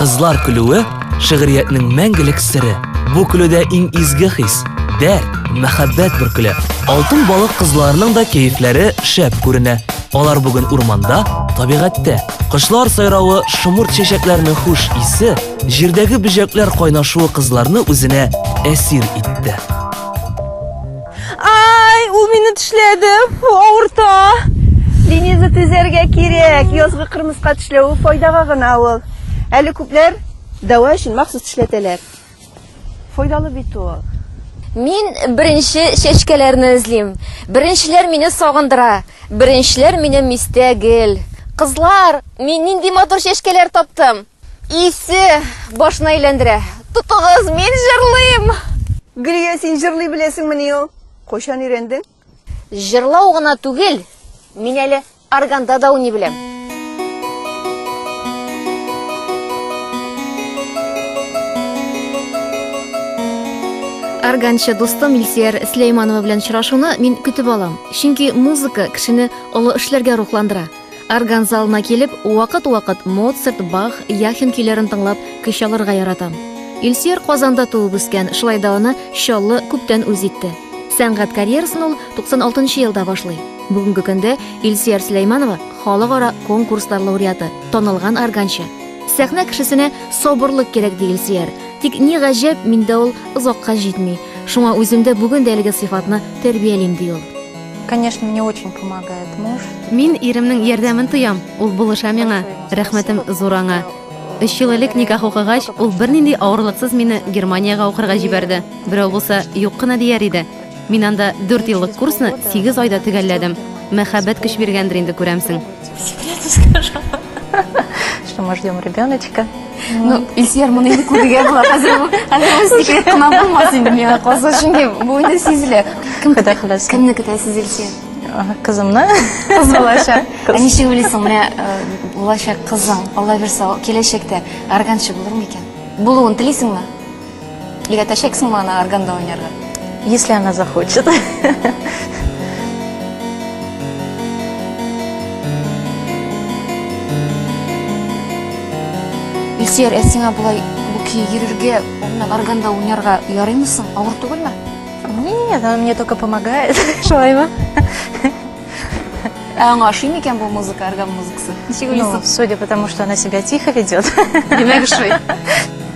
Кызлар көлүе, шигъриятнең мәңгелек сере. Бу көлүдә иң изге хис, дәрт, мәхәббәт бөркелә. Алтын балык кызларының да кәефләре шәп күренә. Алар бүген урманда, табигатьтә. Кошлар сайравы, шомырт чәчәкләрнең хуш исе, җирдәге бөҗәкләр кайнашуы кызларны үзенә әсир итте. Ай, ул мине тешләде, фу, авырта. Лениза төзәргә кирәк. Язгы кырмыска тешләве файдага гына ул. Әле күпләр дәва өчен махсус тешләтәләр. Файдалы бит ул. Мин беренче чәчкәләрне эзлим. Беренчеләр мине сагындыра. Беренчеләр минем истә гел. Кызлар, мин нинди матур чәчкәләр таптым! Исе башны әйләндерә. Тотыгыз, мин җырлыйм! Гөлия, син җырлый беләсеңмени ул? Кайчан өйрәндең? Җырлау гына түгел, мин әле органда да уйный беләм. Органчы дустым Илсияр Сләйманова белән очрашуны мин көтеп алам. Чөнки музыка кешене олы эшләргә рухландыра. Орган залына килеп, вакыт-вакыт Моцарт, Бах, Яхин көйләрен тыңлап, көч алырга яратам. Илсөяр Казанда туып үскән, шулай да аны Чаллы күптән үз итте. Сәнгать карьерасын ул 96 нчы елда башлый. Бүгенге көндә Илсөяр Сөләйманова халыкара конкурслар лауреаты, танылган органчы. Сәхнә кешесенә сабырлык кирәк, ди Илсөяр. Тик ни гаҗәп, миндә ул озакка җитми. Шуңа үземдә бүген дә әлеге сыйфатны тәрбиялим, ди ул. Конечно, мне очень помогает муж. Мин иремнең ярдәмен тоям, ул булыша миңа. Рәхмәтем зур аңа. Өч ел элек никах укыгач, ул бернинди авырлыксыз мине Германиягә укырга җибәрде. Берәү булса, юк кына дияр иде. Мин анда дүрт еллык курсны сигез айда төгәлләдем. Мәхәббәт көч биргәндер инде, күрәмсең. секрету скажу, что мы ждем ребеночка. Ну, Ильсияр моны инде күрергә була. Хәзер бу хәзер бу секрет кына булмас инде миңа калса, чөнки бу инде сизелә. Кем Хода хәләсен. Кемне көтәсез Ильсияр? Кызымны. Кыз булачак. Ә ничек уйлыйсың, менә э, булачак кызың, Алла бирса, киләчәктә арганчы булыр микән? Булуын телисеңме? Өйрәтәчәксеңме аны органда уйнарга? Если она захочет. Ильсөяр, ә сиңа болай бу көй йөрергә, урыннан органда уйнарга ярыймы соң? Авыр түгелме? Нет, она мне только помогает. Шулаймы? Ә аңа ошый микән бу музыка, орган музыкасы? Ничек Ну, уйлыйсың? судя по тому, что она себя тихо ведет. Димәк, ошый.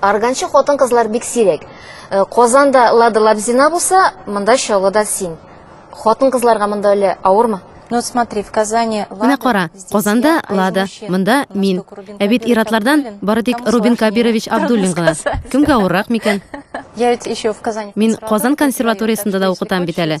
Арганчы хатын-кызлар бик сирәк. Э, Казанда Лада Лабзина булса, монда Чаллыда син. Хатын-кызларга монда әле авырмы? Ну, смотри, в Казани Лада. Менә кара, Казанда а Лада, монда мин. Ә бит иратлардан бары тик Рубин Кабирович Абдуллин гына. Кемгә авыррак микән? Я ведь еще в Казани. Мин Казан консерваториясендә дә укытам бит әле.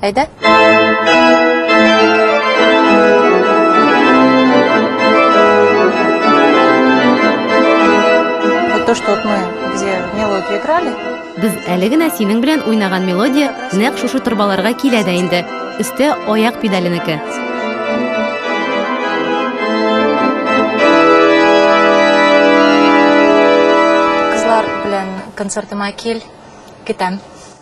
Әйдә! Вот то, что вот мы где мелодию играли, Без әле генә синең белән уйнаган мелодия нәкъ шушы торбаларга килә дә инде. Өстә аяк педаленеке. кызлар белән концертыма кил, көтәм.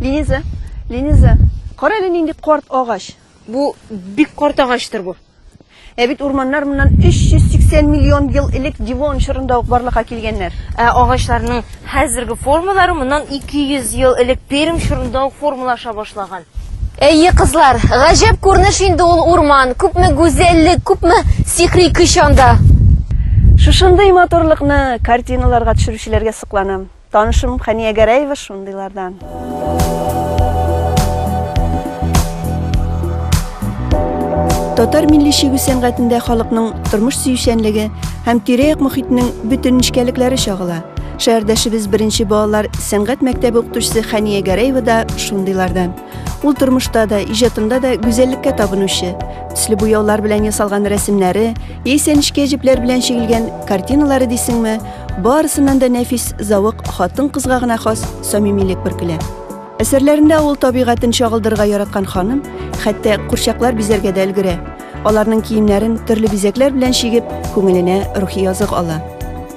Линиза, Линиза, кара әле нинди карт агач. Бу бик карт агачтыр бу. Ә бит урманнар моннан 380 миллион ел элек Дивон чорында ук барлыкка килгәннәр. Ә агачларның хәзерге формалары моннан 200 ел элек Пермь чорында ук формалаша башлаган. Әйе, кызлар, гаҗәп күренеш инде ул урман, күпме гүзәллек, күпме сихри көч анда! Шушындый матурлыкны картиналарга төшерүчеләргә сокланам. Танышым Хәния Гәрәева шундыйлардан. Татар милли чигү сәнгатендә халыкның тормыш сөючәнлеге һәм тирә-як мохитнең бөтен нечкәлекләре чагыла. Шәһәрдәшебез беренче балалар сәнгать мәктәбе укытучысы Хәния Гәрәева да шундыйлардан. Ул тормышта да, иҗатында да гүзәллеккә табынучы. Төсле буяулар белән ясалган рәсемнәре, яисә нечкә җепләр белән чигелгән картиналары дисеңме, барысыннан да нәфис зәвык хатын-кызга гына хас самимилек бөркелә. Әсәрләрендә авыл табигатен чагылдырырга яраткан ханым хәтта курчаклар бизәргә дә өлгерә. Аларның киемнәрен төрле бизәкләр белән чигеп, күңеленә рухи язык ала.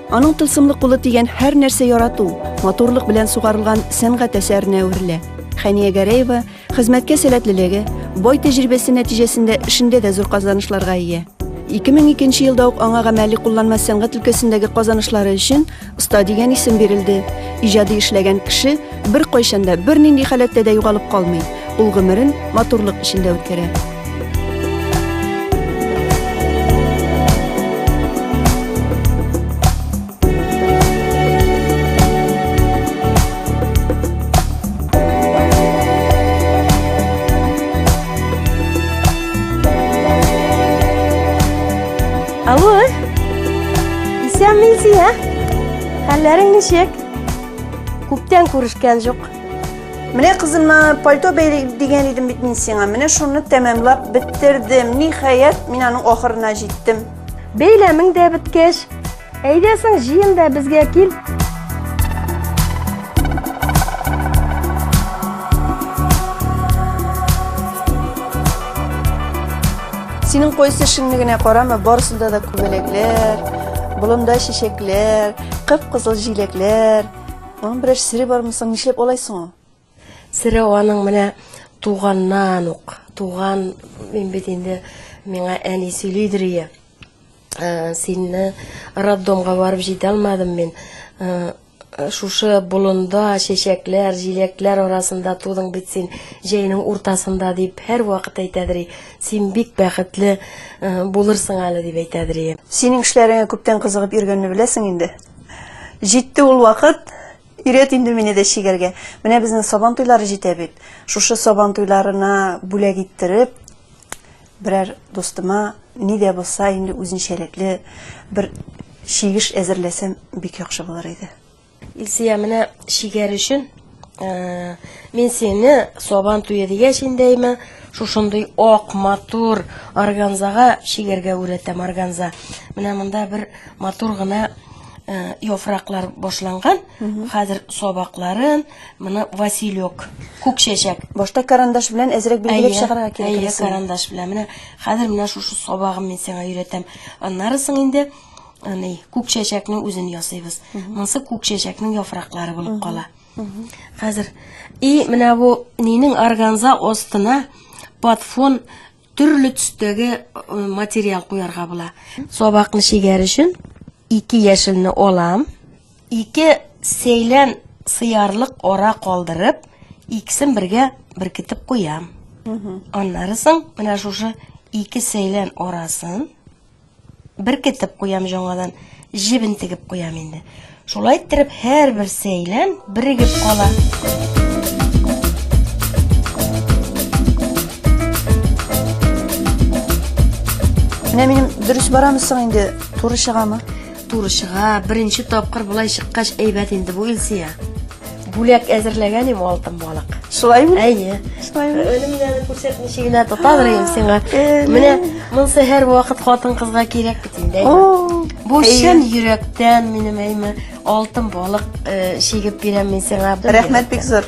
Аның тылсымлы кулы дигән һәр нәрсә ярату, матурлык белән сугарылган сәнгать әсәренә әверелә. Хәния Гәрәева хезмәткә сәләтлелеге, бай тәҗрибәсе нәтиҗәсендә эшендә дә зур казанышларга ия. 2002 елда ук аңа гамәли кулланма сәнгать өлкәсендәге казанышлары өчен оста дигән исем бирелде. Иҗади эшләгән кеше Беркайчан да, бернинди халәттә дә югалып калмый. Ул гомерен матурлык эчендә үткәрә. Алло, исәнмесез, ә? Хәлләрең ничек? Күптән күрешкән җук. Менә кызыма пальто бәйлик дигән идем бит мин сиңа. Менә шуны тәмамлап беттердем. Ниһаять, мин аның ахырына җиттем. Бәйләмең дә беткәч, әйдә соң җыен да безгә кил. Синең кайсы эшеңне генә карама, барысында да күбәләкләр, болында чәчәкләр, Кып-кызыл җиләкләр. Аның берәр сере бармы соң, нишләп алай соң ул? Сере аның менә туганнан ук, туган мин бит инде миңа әни сөйлидер ие. Ә, Синне роддомга барып җитә алмадым мин. Ә, Шушы болында чәчәкләр, җиләкләр арасында тудың бит син, җәйнең уртасында дип һәрвакыт әйтәдер ие. Син бик бәхетле э, булырсың әле, дип әйтә Адрия. Синең эшләреңә күптән кызыгып йөргәнне беләсең инде. Җитте ул вакыт, Ирет инде мине дә чигәргә. Менә безнең сабан туйлары җитә бит. Шушы сабан туйларына бүләк иттереп, берәр дустыма ни дә булса инде үзенчәлекле бер чигеш әзерләсәм бик яхшы булыр иде. Илсия, менә шигәр өчен э, мин сине сабан туе дигәч инде әйме, шушындый ак матур органзага шигәргә үрәтәм органза. Менә монда бер матур гына э, яфраклар башланган. Хәзер сабакларын, моны василек, күк чәчәк. Башта карандаш белән әзрәк билгеләп Әйе, чыгарга кирәк. әйе, карандаш белән. Менә хәзер менә шушы сабагын мин сиңа өйрәтәм. Аннарысын инде Аны күк чәчәкнең үзен ясыйбыз. Монсы күк чәчәкнең яфраклары булып кала. Хәзер и менә бу нинең органза остына под фон төрле төстәге э, материал куярга була. Сабакны шигәр өчен ике яшелне алам, ике сәйлән сыярлык ара калдырып, икесен бергә беркетеп куям. Аннары соң менә шушы ике сәйлән арасын Беркетеп куям җоңадан, җебен тегеп куям инде. Шулай иттереп һәрбер сәйлән бирегеп кала. Менә минем дөрес барамы соң инде, туры чыгамы? Туры чыга, беренче тапкыр болай чыккач әйбәт инде бу Илсия. Бүләк әзерләгән им алтын балык. Шулаймы? Әйе. Шулаймы? Өнем генә күрсәт ничек генә тотадыр ем сиңа. Менә монсы һәр вакыт хатын кызга кирәк бит инде. Бу чын йөрәктән минем әйме алтын балык чигеп бирәм мин сиңа. Рәхмәт бик зур.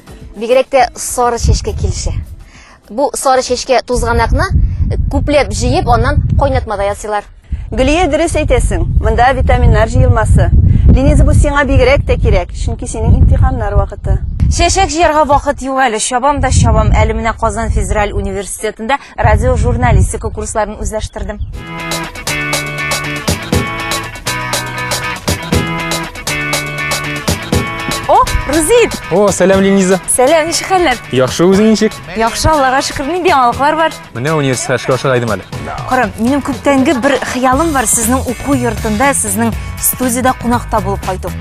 Бигрәк тә сары чәчкә килешә. Бу сары чәчкә тузганакны күпләп җыеп, аннан кайнатмада ясыйлар. Гөлия, дөрес әйтәсең, монда витаминнар җыелмасы. Линиза, бу сиңа бигрәк тә кирәк, чөнки синең имтиханнар вакыты. Чәчәк җыярга вакыт юк әле, чабам да чабам. Әле менә Казан федераль университетында Радиожурналистика курсларын үзләштердем. О, Рузит! О, сәлам, Лениза. Сәлам, ничек хәлләр? Яхшы үзең ничек? Яхшы, Аллага шөкер, нинди яңалыклар бар? Менә университетка эшкә ашыга идем әле. Карам, минем күптәнге бер хыялым бар, сезнең уку йортында, сезнең студиядә кунакта булып кайту.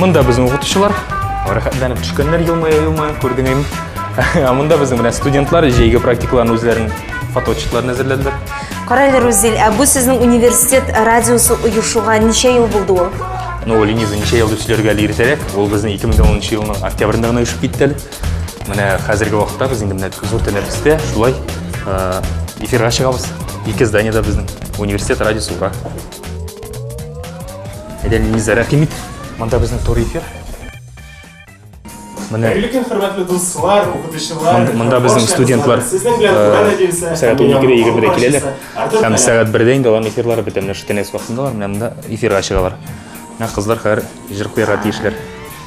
Монда безнең укытучылар рәхәтләнеп төшкәннәр елмая-елмая, күрдең инде. Ә монда безнең белән студентлар җәйге практикаларын үзләрен фотоотчетларын әзерләделәр. Кара әле, Рузил, ә бу сезнең университет радиосы оешуга ничә ел булды ул? Ну, Лениза ничә ел дип сөйләргә әле иртәрәк. Ул безнең 2010 елның октябрендә генә оешып китте әле. Менә хәзерге вакытта без инде менә зур тәнәфестә шулай эфирга чыгабыз. Ике зданиедә безнең университет радиосы ура. Әдәлеңезгә рәхимит. Монда безнең туры эфир. Менә Әлеге хөрмәтле дуслар, укытучылар, монда безнең студентлар сезнең белән туган әдилсә, сәгать 12-дә 20-дә киләләр. Һәм сәгать 1-дә инде аларның эфирлары бетә. Менә шутенес вакытындалар, менә монда эфирга чыгалар. Менә кызлар хәзер җыр куярга тиешләр.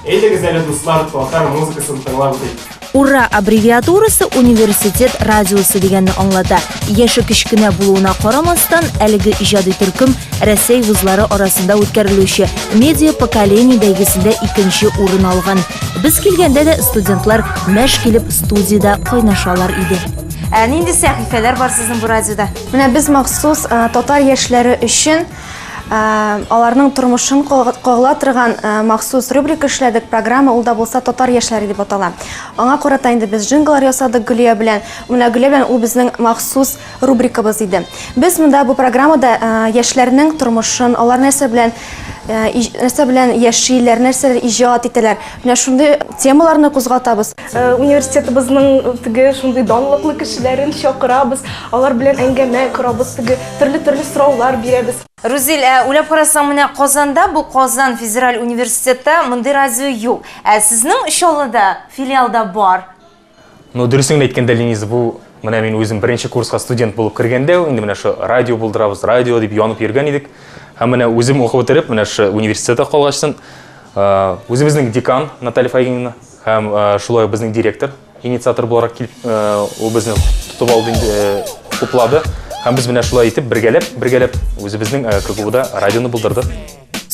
Әйдәгез әле, дуслар, татар музыкасын тыңлап үтик. Ура аббревиатурасы университет радиосы дигәнне аңлата. Яше кечкенә булуына карамастан, әлеге иҗади төркем Рәсәй вузлары арасында үткәрелүче медиа поколение бәйгесендә икенче урын алган. Без килгәндә дә студентлар мәш килеп студиядә кайнашалар иде. Ә нинди сәхифәләр бар сезнең бу радиода? Менә без махсус татар яшьләре өчен аларның тормышын кагыла торган махсус рубрика эшләдек. Программа ул да булса татар яшьләре дип атала. Аңа карата инде без джинглар ясадык Гөлия белән. Менә Гөлия белән ул безнең махсус рубрикабыз иде. Без монда бу программада яшьләрнең тормышын, алар нәрсә белән нәрсә белән яшиләр, нәрсәләр иҗат итәләр. Менә шундый темаларны кузгатабыз. Э, университетыбызның теге шундый данлыклы кешеләрен чакырабыз, алар белән әңгәмә корабыз, теге төрле-төрле сораулар бирәбез. Рузил, ә уйлап карасаң, менә Казанда бу Казан федераль университеты мондый радио юк. Ә сезнең Чаллыда филиалда бар. Ну, дөресен әйткәндә, Ленис, бу менә мин үзем беренче курска студент булып кергәндә, инде менә шу радио булдырабыз, радио дип янып йөргән идек. Һәм менә үзем укып бетереп, менә шу университетта калгачтын, э, үзебезнең декан Наталья Фаимовна Һәм шулай безнең директор инициатор буларак килеп, ул безне тотып алды инде, хуплады. Һәм без менә шулай итеп бергәләп, бергәләп үзебезнең КГУда радионы булдырдык.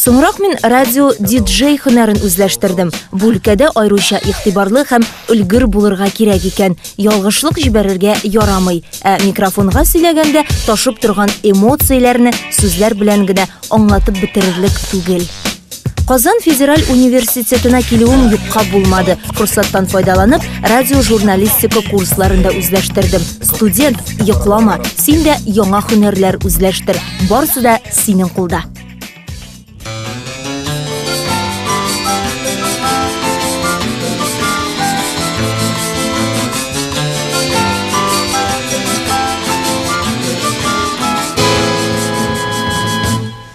Соңрак мин радио диджей хөнәрен үзләштердем. Бу өлкәдә айруча игътибарлы һәм өлгер булырга кирәк икән. Ялгышлык җибәрергә ярамый. Ә микрофонга сөйләгәндә ташып торган эмоцияләрне сүзләр белән генә аңлатып бетерерлек түгел. Казан федераль университетына килүем юкка булмады. Форсаттан файдаланып, радиожурналистика курсларын да үзләштердем. Студент, йоклама, син дә яңа һөнәрләр үзләштер. Барысы да синең кулда.